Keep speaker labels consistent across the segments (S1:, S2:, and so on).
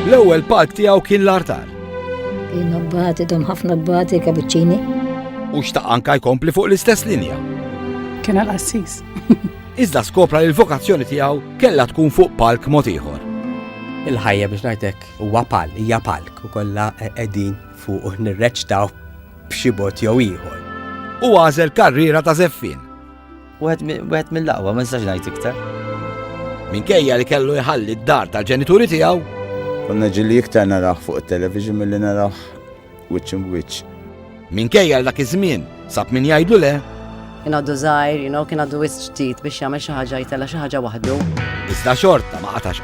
S1: L-ewwel palk tiegħu kien l-artar. Kien abbati dom ħafna abbati kabuċċini. U xtaq anka jkompli fuq l-istess linja. Kien għal-qassis. Iżda skopra li l-vokazzjoni tiegħu kellha tkun fuq palk mod ieħor. Il-ħajja biex ngħidlek huwa pal, hija palk u kollha qegħdin fuq u nirreċtaw b'xi bot jew ieħor. U għażel karriera ta' zeffin Wieħed mill-aqwa, ma nistax ngħid iktar. Minkejja li kellu jħalli d-dar tal-ġenituri tiegħu. Konna ġilli iktar naraħ fuq it-television milli naraħ wiċċ in wiċċ. Minkejja l dak iż-żmien sab min jgħidlu le. Kien għaddu żgħir, you know, kien għaddu wisq ġdid biex jagħmel xi ħaġa jtella xi ħaġa waħdu. Iżda xorta ma qatax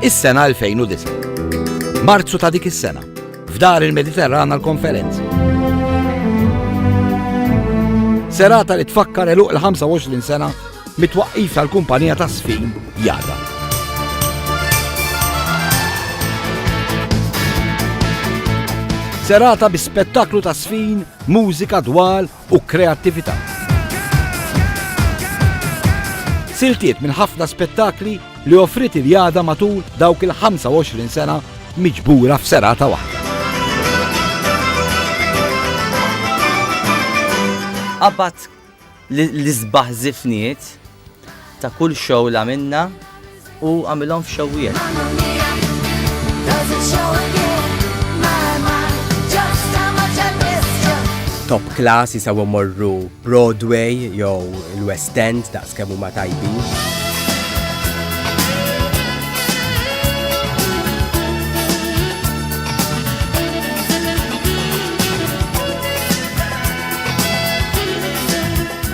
S1: Is-sena 2009. Marzu ta' dik is-sena. F'dar il-Mediterrana l-konferenza. Serata li tfakkar eluq l-25 sena mitwaqqif tal-kumpanija ta' sfin jada. Serata bi spettaklu ta' sfin, mużika, dwal u kreattività. Siltiet minn ħafna spettakli li offrit il-jada matul dawk il-25 sena miġbura f'serata waħda. Abbat l-izbaħ zifniet Ta' kull show l-għamilna u għamilhom f'xewwiet. top class jisaw morru Broadway jew l-West End daqs kemm huma tajbin.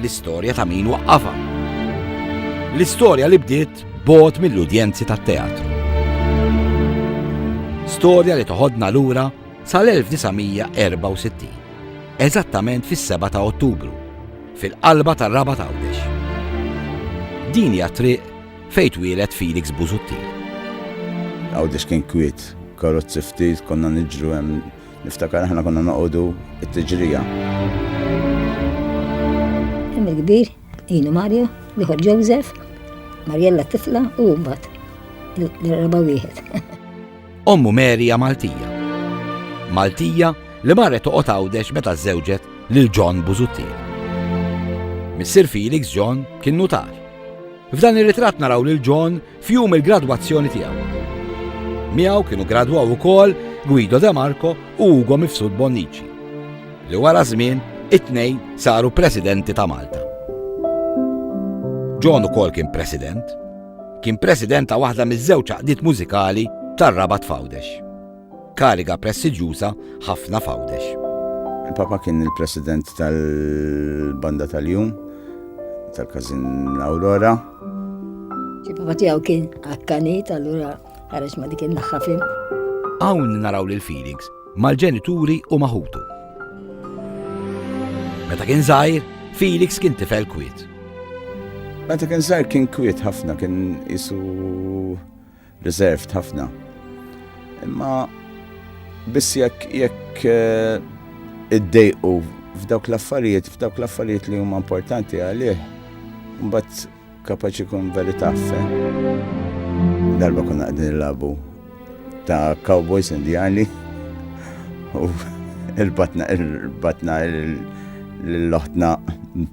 S1: L-istorja ta' min waqqafa. L-istorja li bdiet bot mill-udjenzi tat-teatru. Storja li toħodna lura sal-1964, eżattament fis-7 ta' Ottubru, fil-qalba tar-raba tawdex. Din hija triq fejn twieled Felix Busuttil. Għawdex kien kwiet, karozzi ftit, konna niġru hemm Niftakar aħna konna noqogħdu t-tiġrija. Hemm il-kbir, jienu Mario, l-ieħor Joseph, Marjella tifla u mbagħad l-raba wieħed. Ommu Merija Maltija. Maltija li marret toqgħod għawdex meta żewġet lil John Buzuttir. Missir Felix John kien nutar. F'dan ir-ritratt naraw lil John f'jum il-gradwazzjoni tiegħu. Miegħu kienu gradwaw ukoll Guido De Marco u Ugo Mifsud Bonnici, li wara żmien it-tnejn saru presidenti ta' Malta. John ukoll kien president. Kien president ta' waħda miż-żewġ għaqdiet mużikali tar-Rabat f'Għawdex. Kariga prestiġjuża ħafna f'Għawdex. Il-Papa kien il-President tal-Banda tal-Jum tal-Każin Aurora. Il-Papa tiegħu kien akkanit, allura ħareġ ma dik in-naħħa fim. Hawn naraw lil Felix mal-ġenituri u maħutu. Meta kien żgħir, Felix kien tifel kwiet. Meta kien żgħir kien kwiet ħafna, kien isu Reserved ħafna. Imma biss jekk jekk eh, iddejqu f'dawk l-affarijiet, f'dawk l-affarijiet li huma importanti għalih, mbagħad kapaċi kun verità fe. Darba kuna qegħdin nilabu ta' Cowboys Indiani u il-batna il-batna l-loħtna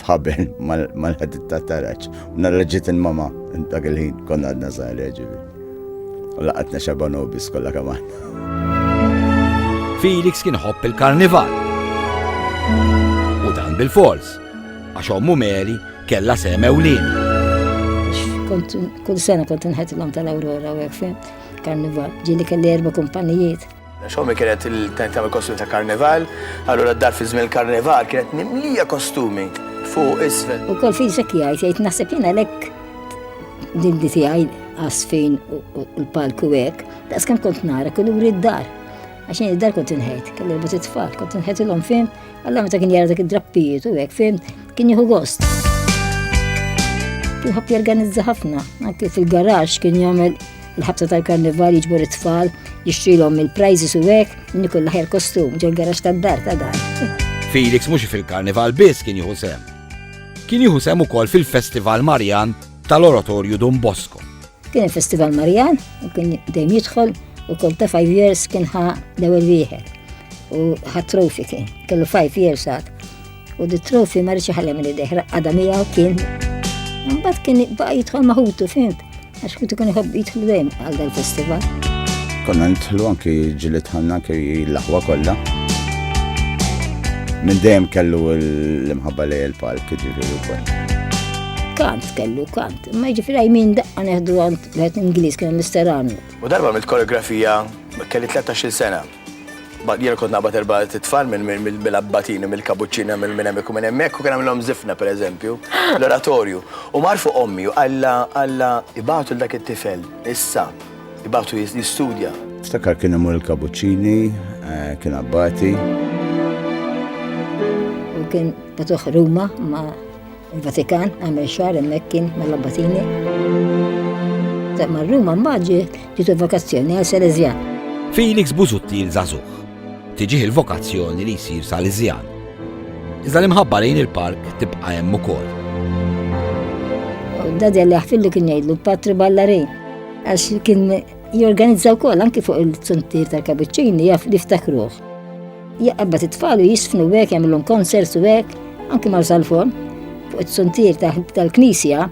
S1: bħabel mal-ħadit ta' taraċ. Nara ġiet il-mama, dak il-ħin konna għadna zaħir ġivi. U laqatna xabanobis kolla kaman. Felix kien ħobb il-karnival. U dan bil-fors, għax ommu Mary kella seme u lin. Kull sena kont nħetilhom tal-Aurora u għek karnival. Ġili kelli erba kumpanijiet. Għax ommi kienet tagħmel kostumi ta' karnival, allura d-dar fi żmien il-karnival kienet mimlija kostumi fuq isfel. U kol fi ġek jgħid, jgħid naħseb jiena lek din di tiegħi għasfin u l-palku hekk, daqs kemm kont nara kull uri d-dar. Għax id-dar kont inħejt, kelli rbut it-tfal, kont inħejt il-om fin Alla meta kien jara dak id-drappijiet u hekk fim kien jieħu gost. Kien ħabb jorganizza ħafna, anke fil-garaġġ kien jagħmel il-ħabta tal-karnival jiġbor it-tfal, jixtrilhom il-prizes u hekk, inni kull ħajr kostum ġol garaġġ tad-dar ta' dar. Felix mhux fil-karnival biss kien jieħu sem. Kien jieħu sem ukoll fil-Festival Marjan tal-Oratorju Don Bosco Kien il-Festival Marjan u kien dejjem jidħol u kol ta' 5 years kien ħa l-ewwel wieħed u ħa trofi kien, kellu 5 years għad. U di trofi ma rridx ħallem li deħra għadha miegħu kien. Mbagħad kien baqa' jidħol maħutu fint, għax kien ikun iħobb jidħlu dejjem għal dal-festival. Konna nidħlu anki ġili tħanna anki l-aħwa kollha. Minn dejjem kellu l-imħabba lej il-palk ġifieri wkoll. Kant kellu kant. Ma jiġifieri għajmin daqqa neħdu għand wieħed Ingliż kien Mr. Arnold. U darba mill koreografija kelli 13-il sena. Bad jien kont naqbad erba' titfal minn mill-abbatini, mill-kabuċċina, minn minn hemmhekk u minn hemmhekk u kien għamilhom zifna pereżempju, l-oratorju. U mar fuq ommi u qalla qalla ibatu dak it-tifel issa, ibatu jistudja. Ftakar kien imur il-kabuċċini, eh, kien abbati. U kien batuħ Ruma ma' Il-Vatikan għamel xahar hemmhekk kien mal-Abbatini. Ta' mar-Ruma mbagħad ġiet vakazzjoni għal Salesjan. Felix Buzutti il-Żagħżugħ. Tiġih il-vokazzjoni li jsir Salesjan. Iżda l-imħabba lejn il-park tibqa' hemm ukoll. Dadi li ħfillu kien jgħidlu patri ballarin għax kien jorganizzaw kol anki fuq il-suntir tal-kabuċċini jaf li ftakruħ. Jaqbad it-tfal u jisfnu hekk jagħmilhom konserts u hekk, anki mar sal-forn, fuq it-suntier tal-knisja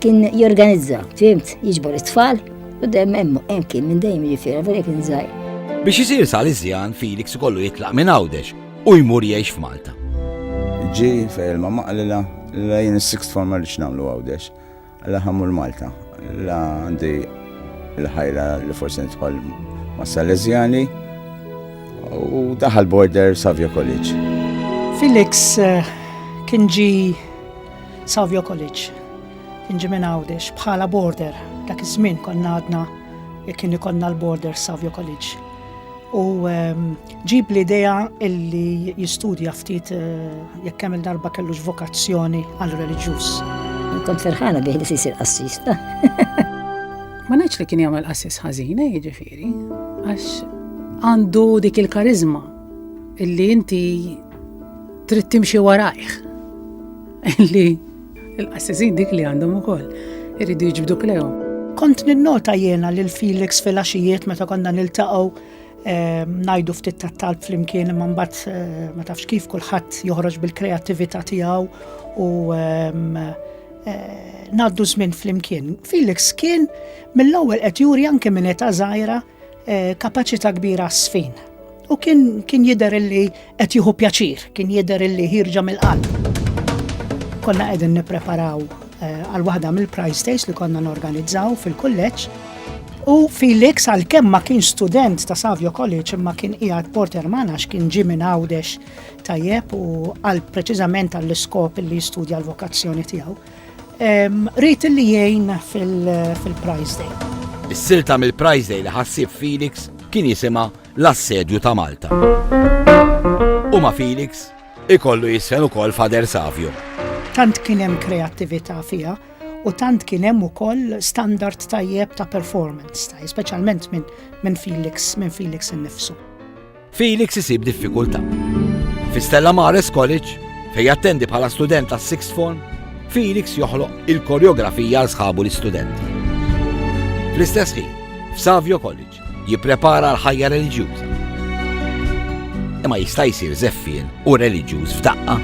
S1: kien jorganizza, fimt, jiġbor it-tfal u dem hemm hemm kien minn dejjem jiġifieri vera kien żgħir. Biex isir Saliżjan Felix ikollu jitlaq minn Għawdex u jmur jgħix f'Malta. Ġi fejn ma maqlila lejn is-sixth form ma rridx nagħmlu Għawdex. La ħammur Malta, la għandi l-ħajra li forsi nitħol ma' Salezjani u daħal border Savio College. Felix eh, kien ġi Savio College, kien ġi minn għawdex bħala border, dak iż-żmien konna għadna kien ikonna l-border Savio College. u ehm, ġib l-idea illi jistudja ftit eh, jekk hemm il-darba kellux vokazzjoni għal reliġjuż. Kont ferħana bih li sisir qassis. Ma ngħidx li kien jagħmel qassis ħażina eh, jiġifieri, għax għandu dik il-karizma illi inti trid timxi warajh. Illi Il-qassisin dik li għandhom ukoll iridu jiġbdu klejhom. Kont ninnota jiena lil Felix fil-għaxijiet meta konna niltaqgħu eh, ngħidu ftit tat-talb flimkien imma mbagħad eh, ma tafx kif kulħadd joħroġ bil-kreattività tiegħu u ehm, eh, ngħaddu żmien flimkien. Felix kien mill-ewwel qed juri anke minn età żgħira eh, kapaċità kbira għas-sfin. U kien, kien jider illi qed jieħu pjaċir, kien jider illi ħirġa mill-qalb. Konna qegħdin nippreparaw eh, għal waħda mill-prize days li konna norganizzaw fil-kulleġġ U Felix għal kemm ma kien student ta' Savio College imma kien qiegħed Porter Manax kien ġi minn Għawdex tajjeb u għal preċiżament għall iskop li jistudja l-vokazzjoni tiegħu. Rrit li jgħin fil-Prize Day. Is-silta mill-Prize Day li ħassib Felix kien jisima l-assedju ta' Malta. U ma' Felix ikollu jisfen ukoll Fader Savio. Tant kien hemm kreattività fiha u tant kien hemm ukoll standard tajjeb ta' performance, speċjalment minn Felix, minn Felix innifsu. Felix isib diffikultà. Fi Stella Maris College, fejn jattendi bħala student tas sixth form, Felix joħloq il-koreografija għal sħabu l-istudenti. Fl-istess ħin, f'Savio College, jipprepara l-ħajja reliġjuża. Imma jista' jsir zeffien u reliġjuż f'daqqa.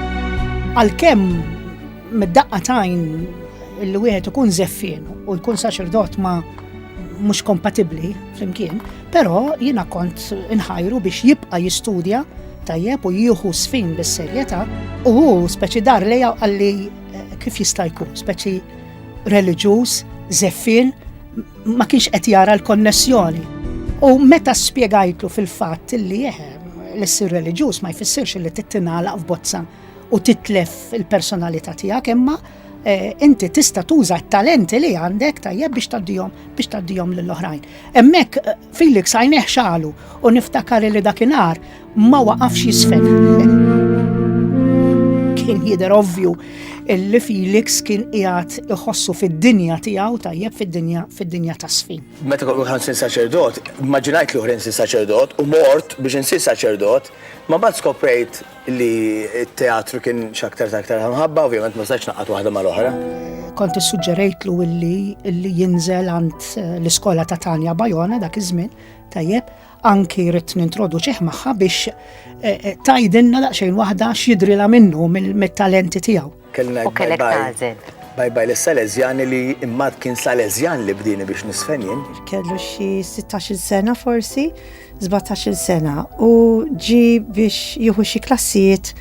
S1: Għalkemm mid-daqqa tajn li wieħed ikun zeffien u jkun saċerdot ma' mhux kompatibbli flimkien, Però jiena kont inħajru biex jibqa' jistudja tajjeb u jieħu sfin bis-serjetà u hu speċi dar lejja għalli eh, kif jista' jkun, speċi reliġjuż, zeffin, ma kienx qed jara l-konnessjoni. U meta spjegajtlu fil-fatt li jeħe eh, l-issir reliġjuż ma jfissirx li tittinala f'bozza u titlef il-personalità tiegħek imma eh, inti tista' tuża t-talenti li għandek tajjeb biex taddihom biex taddihom lil oħrajn. Hemmhekk eh, Felix għajneh xalu u niftakar li dakinhar ma waqafx jisfen. Kien jidher ovvju li Felix kien qiegħed iħossu fid-dinja tiegħu tajjeb fid-dinja fid-dinja ta' sfin. Meta kont ħansir saċerdot, immaġinajt li ħrensi saċerdot u mort biex insir saċerdot, ma bad skoprejt Li t-teatru kien x'aktar ta' aktar ta' mħabba, ovvjament ma stajtx ngħaqqad waħda mal-oħra. Kont issuġġerejtlu illi jinżel għand l-iskola ta' Tanja Bajona dak iż-żmien, tajjeb, anki rrid nintroduċih magħha biex tgħidilna daqsxejn waħda x'jidhrilha minnu mit-talenti tiegħu. Kelli ngħid bye bye. Bye bye lis-Salesjani li imbagħad kien Salesjan li bdieni biex nisfen jien. Kellu xi sittax-il sena forsi, sbatax-il sena u ġie biex jieħu xi klassijiet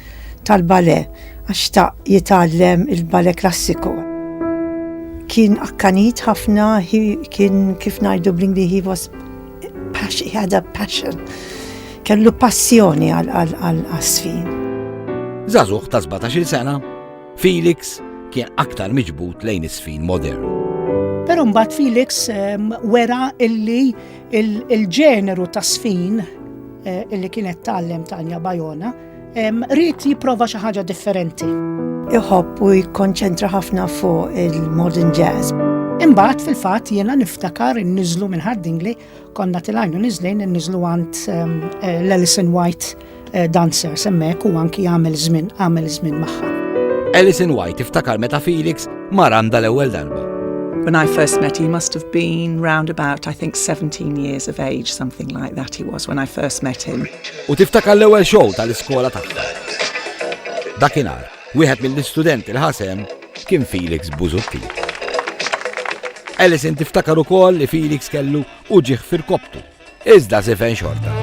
S1: tal-ballet għax xtaq jitgħallem il-ballet klassiku. Kien akkanit ħafna, kien kif ngħidu bl-Ingliż he was Paxi, għada passion. Kellu passjoni għal-qasfin. Zazuħ ta' 17 sena, Felix kien aktar miġbut lejn isfin modern. Pero mbagħad Felix ehm, wera illi il-ġeneru ta' sfin eh, illi kienet tallem Tanja Bajona Rrit jipprova xi ħaġa differenti. Iħobb u jikkonċentra ħafna fuq il-modern jazz. Imbagħad fil-fatt jiena niftakar inniżlu minn Hardingli konna tilajnu niżlejn inniżlu għand eh, l-Alison White eh, dancer semmek u anki għamel żmien għamel żmien magħha. Alison White iftakar meta Felix mar għandha l-ewwel darba. When I first met, he must have been round about, I think, 17 years of age, something like that he was when I first met him. U tiftakar l-ewwel show tal-iskola tagħha. Dakinhar, wieħed mill-istudenti li ħa sehem kien Felix Busuttil. Alison tiftakar ukoll li Felix kellu uġigħ f'irkopptu, iżda sifen xorta.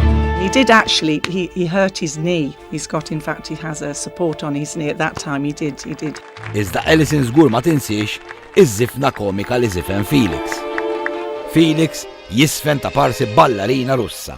S1: He did actually, he, he hurt his knee. He's got, in fact, he has a support on his knee at that time. He did, he did. Iżda Alison żgur ma tinsiex iż-żifna komika li zifen Felix. Felix jisfen ta' parsi ballarina russa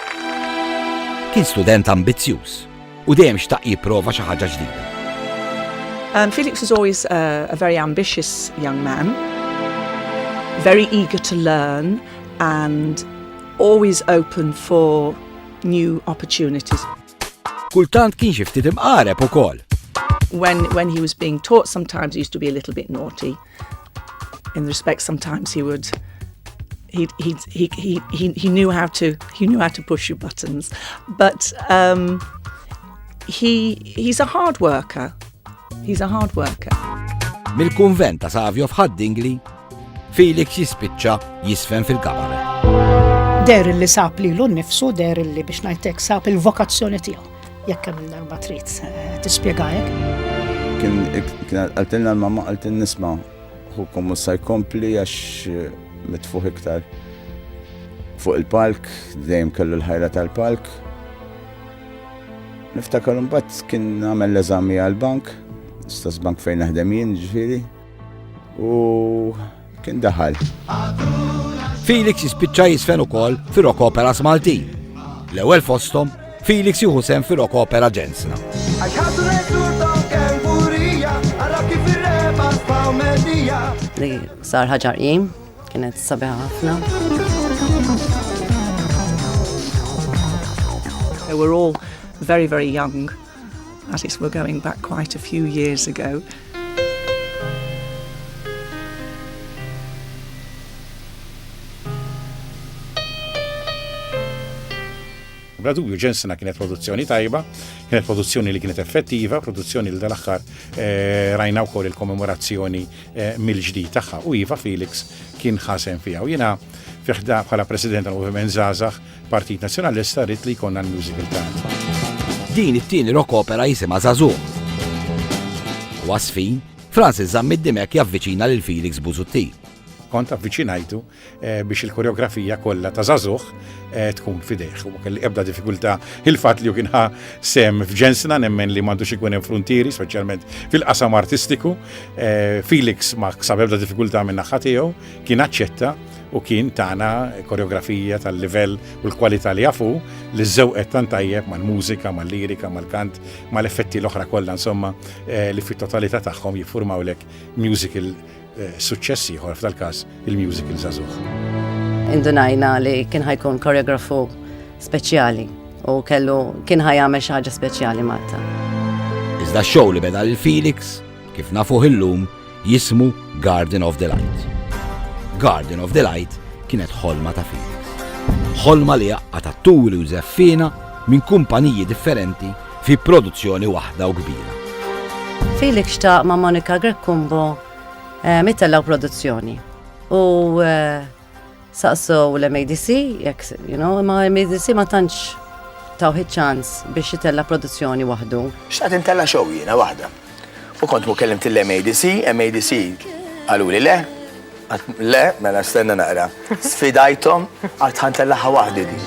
S1: Kien student ambizzjuż u dejjem xtaq jipprova xi ħaġa ġdida. Um, Felix was always a, a very ambitious young man, very eager to learn and always open for new opportunities. Kultant kien xi ftit imqareb ukoll. When, when he was being taught sometimes he used to be a little bit naughty. In respect sometimes he would he, he, he, he, he, he knew how to he knew how to push your buttons but um, he, he's a hard worker he's a hard worker Mill-kunvent ta' Savio f'Ħaddingli, Felix jispiċċa jisfen fil-kabaret. Der li sab li l-nifsu, der li biex najtek sab il-vokazzjoni tiegħu. Jekk hemm darba trid eh, tispjega hekk. Kien qaltilna l-mamma qalt nisma' ħukom u sa jkompli għax eh, mitfuħ iktar fuq il-palk, dejjem kellu l-ħajra tal-palk. Niftakar mbagħad kien għamel l-eżami għal-bank, stess bank fejn naħdem jien ġifieri. U kien daħal. Felix jispiċċa jisfen ukoll fir-rock opera Malti. L-ewwel fosthom Felix jieħu sem fir-rock opera Ġensna. Li sar ħaġar jim, kienet sabiħa ħafna. They were all very, very young. That is, we're going back quite a few years ago. Bla dubju ġensina kienet produzzjoni tajba, kienet produzzjoni li kienet effettiva, produzzjoni li dal-aħħar eh, rajna wkoll il-kommemorazzjoni eh, mill-ġdid tagħha u iva Felix kien ħasen fiha. U jiena fiħda bħala President tal-Moviment Zazax Partit Nazzjonalista rrid li jkollna l-musical band. Din it-tieni rock opera jisimha Żagħżugħ. Wasfin, Francis Zammid Dimek javviċina lil Felix Buzutti. Kont avviċinajtu eh, biex il-koreografija kollha ta' Żagħżugħ eh, tkun fidejh. U kelli ebda diffikultà il-fatt li kien sem f'ġensna nemmen li m'għandux ikun hemm frontieri, speċjalment fil-qasam artistiku. Eh, Felix ma ksab ebda diffikultà minn naħa tiegħu, kien aċċetta u kien tana koreografija tal-livell u l-kwalità li jafu li żewqet tant tajjeb mal-mużika, mal-lirika, mal-kant, mal-effetti l-oħra kollha insomma eh, li fit-totalità tagħhom jiffurmawlek musical eh, suċċess ieħor f'dal każ il-musical żagħżugħ. Indunajna li kien ħajkun koreografu speċjali u kellu kien ħajamel xi ħaġa speċjali Malta. Iżda x-show li beda l-Felix, kif nafuh illum, jismu Garden of Delight. Garden of Delight kienet ħolma ta' Felix. Ħolma li għaqqad atturi u żeffiena minn kumpaniji differenti fi produzzjoni waħda u kbira. Felix xtaq ma' Monica Greccumbo eh, mitellgħu produzzjoni u eh, Saqsew l-MADC, jekk, you know, imma MADC ma tantx taw ċans biex jitella produzzjoni waħdu. Xtaqt intella xow jiena waħda. U kont mu kellimt l-MADC, MADC għalu li le, le, mela stenna naqra. Sfidajtom għat ħantellaħa waħdi di.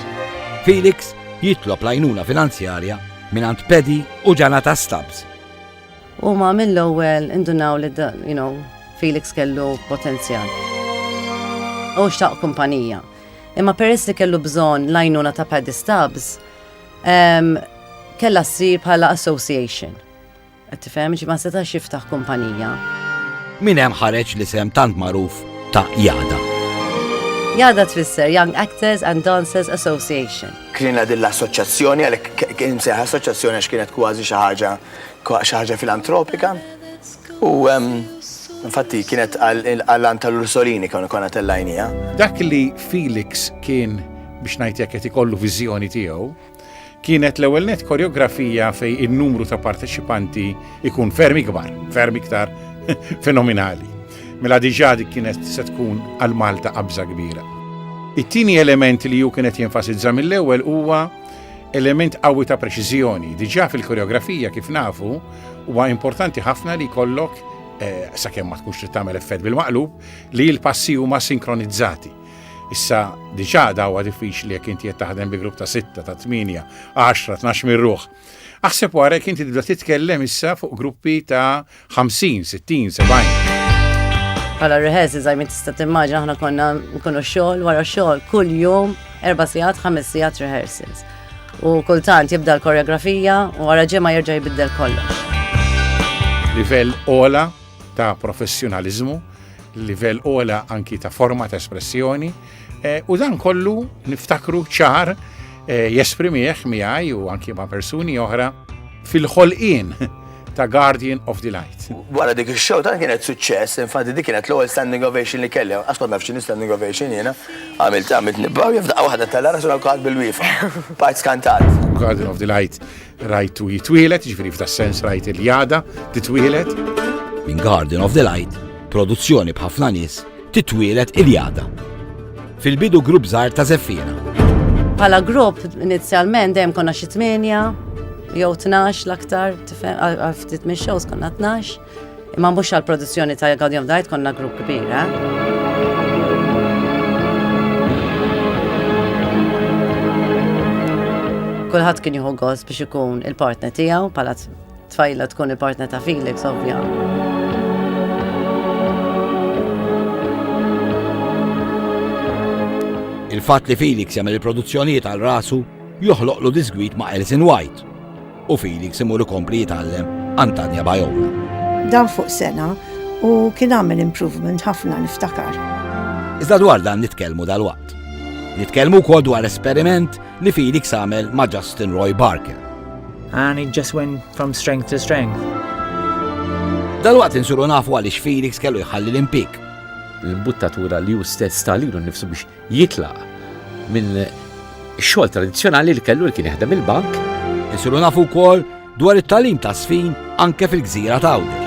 S1: Felix jitlob lajnuna finanzjarja minn Pedi u Ġanata Stubbs Huma mill-ewwel indunaw li you know, Felix kellu potenzjal. U xtaq kumpanija. Imma peress li kellu bżonn l-għajnuna ta' Paddy Stubbs, um, kella ssir bħala association. Qed tifhem ma setax jiftaħ kumpanija. Min hemm ħareġ li sem tant magħruf ta' Jada. Jada tfisser Young Actors and Dancers Association. Kienet din l-assoċjazzjoni għalhekk kien seħ assoċjazzjoni għax kienet kważi xi ħaġa kwa xi ħaġa filantropika u infatti kienet għall-għallan tal-Ursolini konna konna tellajnija. Dak li Felix kien biex ngħid jekk qed ikollu viżjoni tiegħu kienet l-ewwel net koreografija fej in-numru ta' parteċipanti ikun ferm ikbar, ferm iktar fenomenali. Mela diġà dik kienet se tkun għal Malta qabża kbira. It-tieni element li ju kienet jenfasizza mill-ewwel huwa element qawwi ta' preċiżjoni. Diġà fil-koreografija kif nafu huwa importanti ħafna li jkollok eh, sakemm ma tkunx trid tagħmel effett bil-maqlub li l-passi huma sinkronizzati. Issa diġà dawwa diffiċli jekk inti qed taħdem bi grupp ta' 6, ta' 8, 10, 12 mirruħ. Aħseb wara jekk inti tibda titkellem issa fuq gruppi ta' 50, 60, 70. Bħala rehearsi zajmi tista' timmaġina aħna konna nkunu xogħol wara xogħol kull jum erba' sigħat, ħames sigħat rehearsals. U kultant jibda l-koreografija u wara ġimgħa jerġa' jbiddel kollox. Livell ola ta' professjonaliżmu, livell ola anki ta' forma ta' espressjoni, Eh, u dan kollu niftakru ċar eh, jesprimieħ miegħi u anki ma' persuni oħra fil-ħolqien ta' Guardian of the Light. Wara dik il-show ta' kienet suċċess, infatti dik kienet l-ewwel standing ovation li kelli, għax kont nafx standing ovation jiena, għamilt għamilt nibbaw jafda waħda tal-ara sura kħad bil-wifa. Part skantat. Guardian of the Light Rajtu jitwielet, ġifieri f'da sens rajt il-jada titwielet. Minn Garden of the Light, produzzjoni b'ħafna nies, titwielet il-jada. Fil-bidu grupp żgħar ta' Zeffina. Bħala grupp inizjalment dejjem konna xi tmienja, jew tnax l-aktar, ftit minn shows konna tnax. Imma mhux għall-produzzjoni ta' Guardian of the Light konna grupp kbir, eh? kulħadd kien jieħu gost biex ikun il-partner tiegħu bħala tfajla tkun il-partner ta' Felix ovvja. Il-fatt li Felix jagħmel il-produzzjonijiet għal rasu joħloqlu disgwit ma' Alison White u Felix imur ikompli jitgħallem għand Tanya Bajola. Dan fuq sena u kien għamel improvement ħafna niftakar. Iżda dwar dan nitkellmu dal-waqt. Nitkellmu wkoll dwar esperiment li Felix għamel ma' Justin Roy Barker. And it just went from strength to strength. Dal-waqt insuru nafu għaliex Felix kellu jħalli l-impik. L-imbuttatura li ju stess talilu nifsu biex jitlaq minn xogħol tradizzjonali li kellu li kien jaħdem il-bank. Isiru nafu wkoll dwar it-talim ta' sfin anke fil-gżira ta' Għawdex.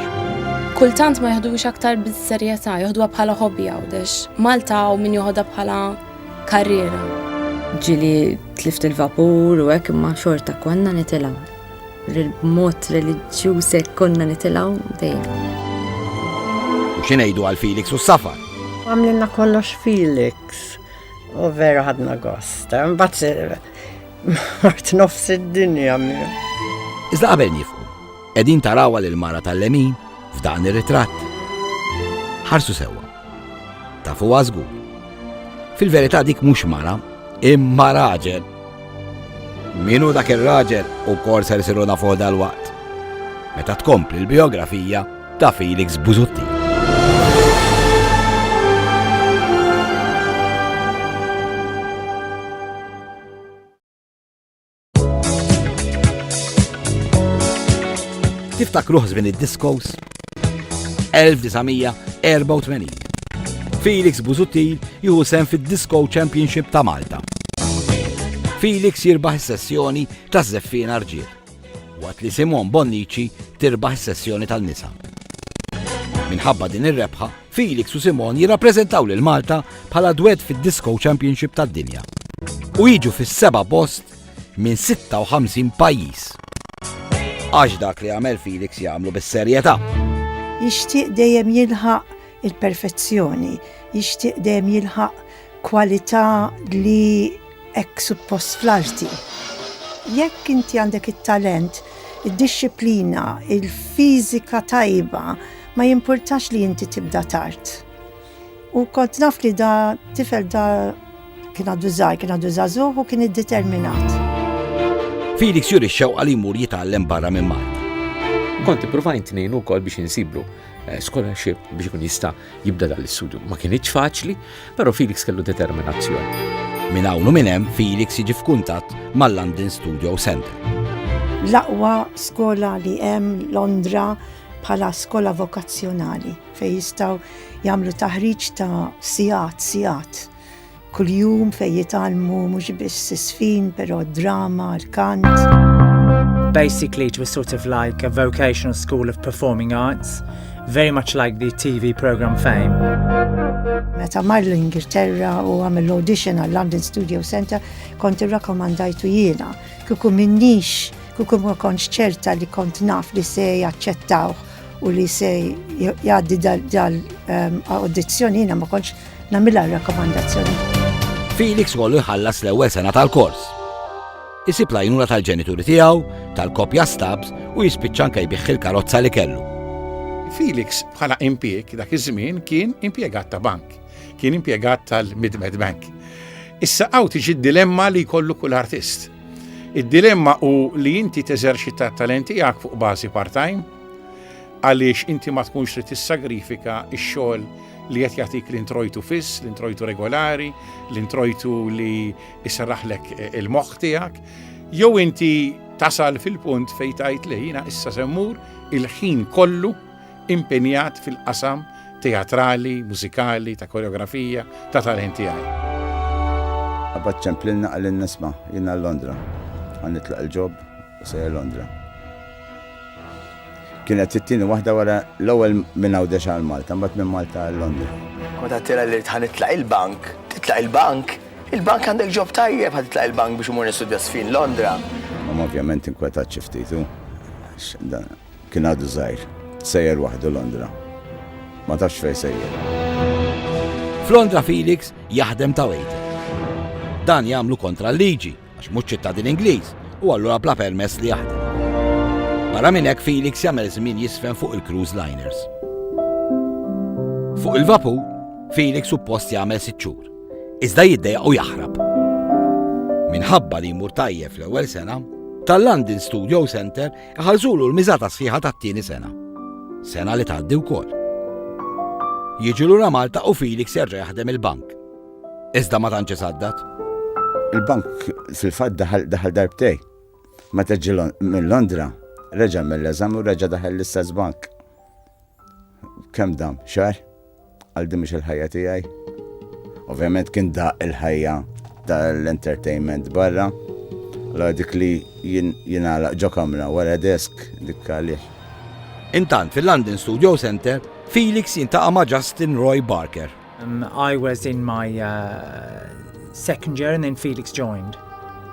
S1: Kultant ma jaħdux aktar bis-serjetà, jaħduha bħala hobby Għawdex. Malta u min joħodha bħala karriera. Ġili tlift il-vapur u hekk imma xorta konna nitilgħu. li b'mod reliġjuż hekk konna nitilgħu dejjem. U xi ngħidu għal Felix u s-safar? Għamlilna kollox Felix u vera ħadna gost. Eh? Mbagħad mort nofs id-dinja miegħu. Iżda qabel nifqu, qegħdin tarawha lil mara tal-lemin f'dan ir-ritratt. Ħarsu sewwa. Tafu għazgu. Fil-verità dik mhux mara, imma raġel. Minu dak ir-raġel u kor ser isiru nafu dal-waqt. Meta tkompli l-biografija ta' Felix Buzutti. Tiftakruh żmien id-diskos? 1984. Felix Buzuttil juhu sem fid-Disco Championship ta' Malta. Felix jirbaħ sessjoni ta' zeffin arġiel. Wat li Simon Bonnici tirbaħ sessjoni tal-nisa. Minħabba din ir-rebħa, Felix u Simon jirrappreżentaw lil Malta bħala dwed fid-Disco Championship tad-dinja u jiġu fis-seba' post minn 56 pajjiż. Għax dak li għamel Felix jagħmlu bis-serjetà. Jixtieq dejjem jilħaq il-perfezzjoni, jixtieq dejjem jilħaq Kwalità li hekk suppost fl-arti. Jekk inti għandek it-talent, id-dixxiplina, il-fiżika tajba, ma jimpurtax li inti tibda tard. U kont naf li da tifel da kien għadu żgħar, kien għadu żagħżugħ u kien iddeterminat. Felix juri xewqa li jmur jitgħallem barra minn Malta. Kont ippruvajt ngħinu wkoll biex insiblu eh, scholarship biex ikun jista' jibda dan l-istudju. Ma kienitx faċli, però Felix kellu determinazzjoni. Minn hawn u minn hemm Felix jiġi f'kuntatt mal-London Studio Center. L-aqwa skola li hemm Londra bħala skola vokazzjonali fejn jistgħu jagħmlu taħriġ ta' sigħat sigħat Kuljum fejn jitgħallmu mhux biss isfin, però d-drama, l-kant. Basically, it was sort of like a vocational school of performing arts, very much like the TV program Fame. Meta mar l-Ingilterra u għamil audition għal London Studio Center, kont irrakomandajtu jiena. Kuku minnix, kuku ma konċ ċerta li kont naf li se jaċċettawh u li se jgħaddi dal-audizzjoni ehm, jiena ma konċ Nagħmilha r-rakkomandazzjoni. Felix kollu jħallas l-ewwel sena tal-kors. Isib lajnuna tal-ġenituri tiegħu, tal-kopja stabs u jispiċċa anke jbiħħi l-karozza li kellu. Felix bħala impjeg dak iż-żmien kien impjegat ta' bank, kien impjegat tal-Midmed Bank. Issa għaw tiġi dilemma li jkollu kull artist. Id-dilemma u li inti teżerċita talenti għak fuq bażi part-time għaliex inti ma tkunx trid tissagrifika x-xogħol li qed jagħtik l-introjtu fiss, l-introjtu regolari, l-introjtu li jserraħlek eh, il-moħħ tiegħek, jew inti tasal fil-punt fejn tajt li jiena issa semmur il-ħin kollu impenjat fil-qasam teatrali, mużikali, ta' koreografija, ta' talent tiegħi. Abbat ċemplilna għallin nisma' jiena l-Londra, għan nitlaq il-ġob u sejja Londra. Kienet it-tieni waħda wara l-ewwel minn Għawdex għal Malta, mbagħad minn Malta għal Londra. Meta tira li tħan itlaq il-bank, titlaq il-bank, il-bank għandek ġob tajjeb ħad titlaq il-bank biex imur nistudja sfin Londra. Ma ovvjament inkwetat xi ftit u kien għadu żgħir, sejjer waħdu Londra. Ma tafx fejn sejjer. Flondra Felix jaħdem ta' wejter. Dan jagħmlu kontra l-liġi għax mhux ċittadin Ingliż u allura bla permess li jaħdem. Barra minn hekk Felix jagħmel żmien jiżfen fuq il-cruise liners. Fuq il-vapur, Felix suppost jagħmel sitt xhur, iżda jiddejaq u jaħrab. Minħabba li jmur tajjeb fl-ewwel sena, tal-London Studio Center iħalżulu l-miżata sħiħa tat-tieni sena. Sena li tgħaddi wkoll. Jiġi lura Malta u Felix jerġa' jaħdem il-bank. Iżda ma tantx isaddat. Il-bank fil-fatt daħal daħal darbtej. Meta ġi minn Londra, reġa' mill-eżami u reġa' daħal l-istess bank. Kemm dam? Xar? Għal din mhux il-ħajja tiegħi. Ovvjament kien da il-ħajja tal-entertainment barra. La dik li jinala ġo kamra wara desk dik għalih. Intant fil-London Studio Center, Felix jintaqa' ma' Justin Roy Barker. Um, I was in my uh, second year and then Felix joined.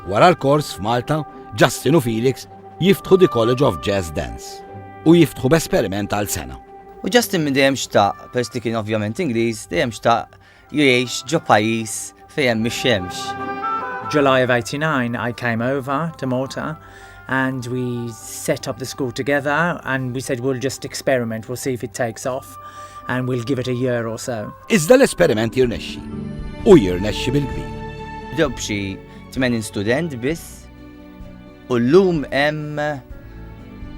S1: Wara l-kors f'Malta, Justin u Felix jiftħu di College of Jazz Dance u jiftħu b'esperiment għal sena. U Justin minn dejjem xtaq, peress li kien ovvjament Ingliż, dejjem xtaq jgħix ġo pajjiż Fejn mix-xemx. July of 89 I came over to Malta and we set up the school together and we said we'll just experiment, we'll see if it takes off and we'll give it a year or so. Iżda l-esperiment jirnexxi u jirnexxi bil-kbir. Bdew b'xi 80 student biss U llum hemm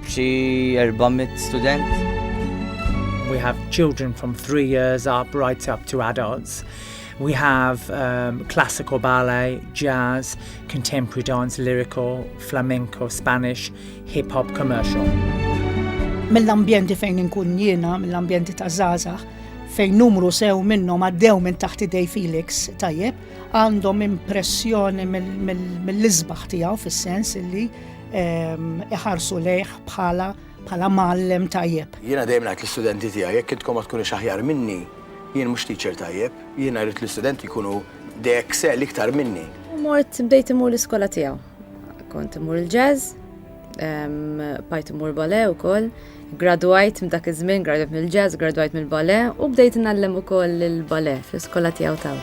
S1: xi 400 student. We have children from three years up right up to adults. We have um, classical ballet, jazz, contemporary dance, lyrical, flamenco, Spanish, hip hop, commercial. Mill-ambjenti fejn inkun jiena, mill-ambjenti ta' Zazax, fejn numru sew minnhom għaddew minn taħt idej Felix tajjeb, għandhom impressjoni mill-isbaħ tiegħu fis-sens illi ehm, iħarsu lejh bħala bħala mallem tajjeb. Jiena dejjem ngħid l-istudenti tiegħi jekk intkom ma tkunux aħjar minni, jien mhux teacher tajjeb, jiena rrid l-istudenti jkunu de excel iktar minni. Mort bdejt imur l-iskola tiegħu. Kont imur il-jazz, Pajt mur bale u koll, graduajt m'dak iż-żmien, graduajt mill-ġazz, graduajt mill-bale u bdejt nallem u koll il-bale fl-iskola tijaw taw.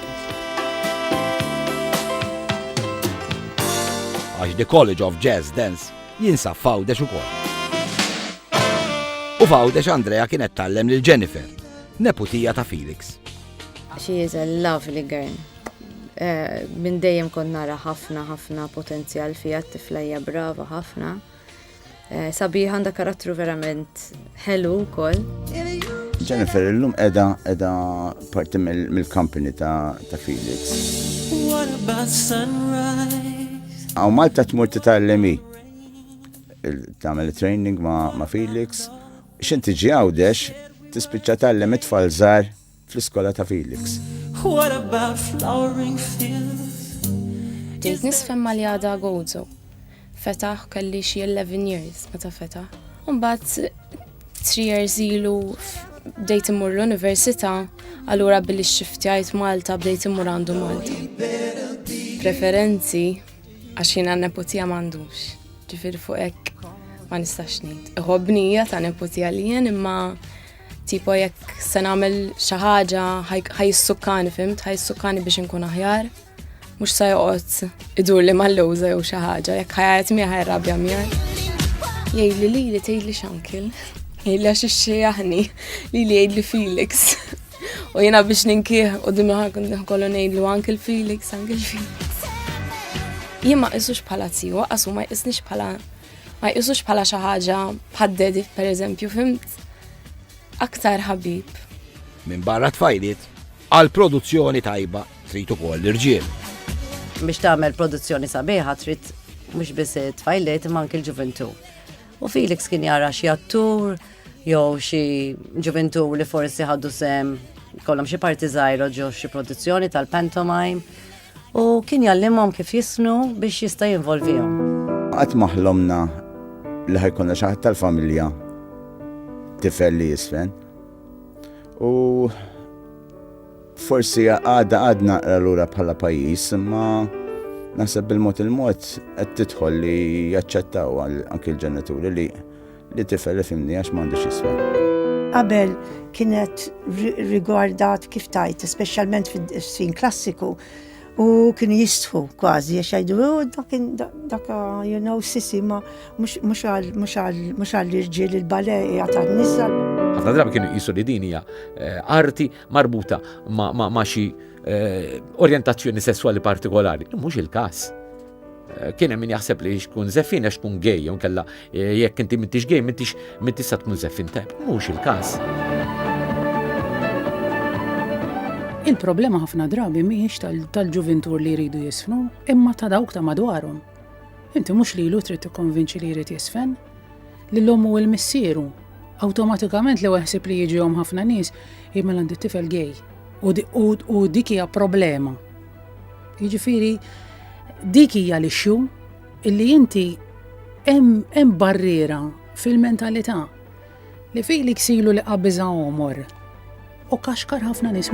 S1: Għax The College of Jazz Dance jinsa fawdex u koll. U fawdex Andrea kienet tallem lil Jennifer, neputija ta' Felix. She is a lovely girl. minn dejjem kont nara ħafna ħafna potenzjal fiha t-tifla hija brava ħafna. Eh, sabiħ għandha karattru verament ħelu wkoll. Jennifer illum edha edha parti mill-company ta' ta' Felix. Għaw Malta tmur titgħallemi tagħmel training ma' Felix. X'inti ġi għawdex tispiċċa tgħallem it-tfal żgħar fl-iskola ta' Felix. Bdejt nisfhem mali għadha Gozo. Fetaħ u kelli xi eleven years meta fetaħ. U mbagħad three years ilu bdejt immur l-università, allura billi xxiftjajt Malta bdejt immur għandu Malta. Preferenzi għax jiena n-neputija m'għandux. Ġifieri fuq hekk ma nistax ngħid. Iħobbni hija ta' neputija li jien imma Tipo jekk se nagħmel xi ħaġa ħajissukkani fimt, ħajissukkani biex inkun aħjar. Mhux se joqgħod idur li mal-lewża jew xi ħaġa, jekk ħajgħid miegħi ħajrabja miegħi. Jgħidli li li tgħidli xankil. Jgħidli għax ixxejjaħni li li jgħidli Felix. U jiena biex ninkih u dimmi ħakun kollu ngħidlu anke l-Felix, anke l-Felix. Jien ma qisux bħala tiju, għasu ma jqisnix bħala Ma jqisux bħala xi ħaġa bħad-dedi pereżempju fimt aktar ħabib. Minn barra tfajliet, għal produzzjoni tajba trid ukoll l-irġiel. Biex tagħmel produzzjoni sabiħa trid mhux biss tfajliet imma anke l-ġuventu. U Felix kien jara xi attur jew xi ġuventu li forsi ħaddu sem kollhom xi parti żgħira ġew xi produzzjoni tal-pantomime U kien jgħallimhom kif jisnu biex jista' jinvolvihom. Qatt ma ħlomna li ħa jkollna xi ħadd tal-familja tifel li jisfen. U forsi għadha għadna naqra lura bħala pajjiż, imma naħseb bil-mod il-mod qed tidħol li jaċċettaw anki l-ġenituri li Li tifel ifhimni għax m'għandix isfel. Qabel kienet rigwardat kif tajt, speċjalment fis-sin klassiku, u kienu jistħu kważi, għax jgħidu, oh, daka, you know, sisi, ma mux għall-irġiel il-bale jgħat għal-nisa. Għafna drabi kienu jisu li din hija eh, arti marbuta ma xi eh, orientazzjoni sessuali partikolari. Mhux il-każ. Eh, kien hemm min jaħseb li xkun zeffin għax tkun gej, jew kella eh, jekk inti m'intix gej, m'intix m'intix sa tkun zeffin tajb. Mhux il-każ. Il-problema ħafna drabi mhijiex tal-ġuvintur li jridu jisfnu, imma ta' dawk ta' madwarhom. Inti mhux li lu trid tikkonvinċi li jrid jisfen, li l-ommu u l-missieru. Awtomatikament li waħseb li jiġihom ħafna nies, jimel għandi tifel gej. U dik hija problema Jiġifieri dik hija l-issue illi inti hemm barriera fil-mentalità li fi li ksilu li qabiża omor u kaxkar ħafna nies